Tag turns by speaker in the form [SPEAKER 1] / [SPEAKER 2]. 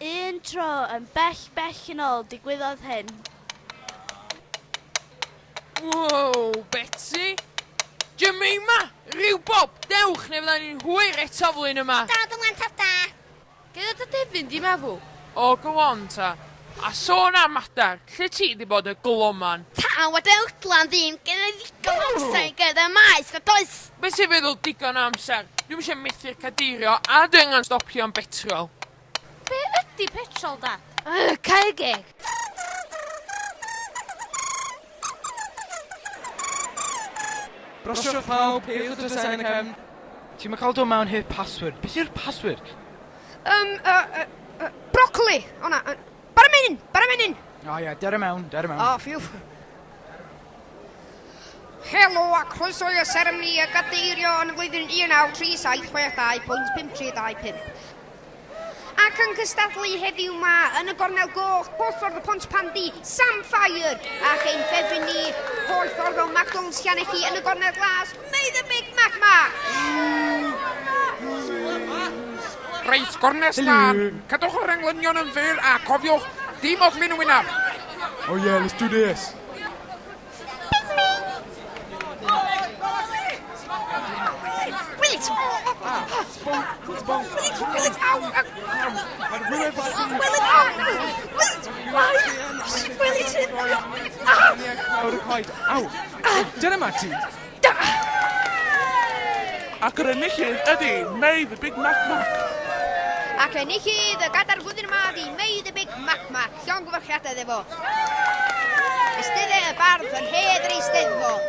[SPEAKER 1] Un tro, yn bell, bell yn ôl, digwyddodd hyn.
[SPEAKER 2] Wow, Betsi! Jemima! Rhyw bob! Dewch, neu fydda ni'n hwyr eto flwyddyn yma! Da, dy mhlant da!
[SPEAKER 3] Gynna dy
[SPEAKER 4] defyn di, meddwl. O, go on
[SPEAKER 2] ta. A sôn am mater, lle ti di bod y gloman? Taw a dywtlan
[SPEAKER 3] ddim gyda ddigon amser i gerdded y maes na does? Be ti'n feddwl digon
[SPEAKER 2] amser? Dwi'm isio methu'r cadeirio a dwi angen stopio am betrol. Be
[SPEAKER 1] ydi petrol dad? Ugh, cau geg!
[SPEAKER 5] Brosiwch pawb, ceiwch y drysau yn y cefn. Ti'm yn cael dod mewn heb password. Beth yw'r password? Yym, yy, yy, yy,
[SPEAKER 4] brocoli! O na, yy, bara menyn! Bara menyn! O oh, ie, yeah, dere mewn,
[SPEAKER 5] dere mewn. O, oh, ffiw.
[SPEAKER 4] Helo a croeso i'r seremoni a gadeirio yn y flwyddyn 193762.535. Ac yn cystadlu heddiw ma yn y gornel goch, porthwrdd y pont pandi, Sam Fire, ac ein ffefryn ni, porthwrdd o McDonald's Llanelli yn y gornel glas, May
[SPEAKER 2] the Big Mac Mac! Reit, gornest lan. Cadwch yr englynion yn fyr a cofiwch, dim oflyn y wynaf. Oh yeah, let's
[SPEAKER 5] do this. Dyna ma ti!
[SPEAKER 6] Ac yr enillydd ydi May the Big Mac Mac. Ac
[SPEAKER 4] enillydd y gadar flwyddyn yma ydi May the Big Mac Mac. Llongyfarchiadau iddo fo. Eisteddai y bardd yn hedd yr Eisteddfod.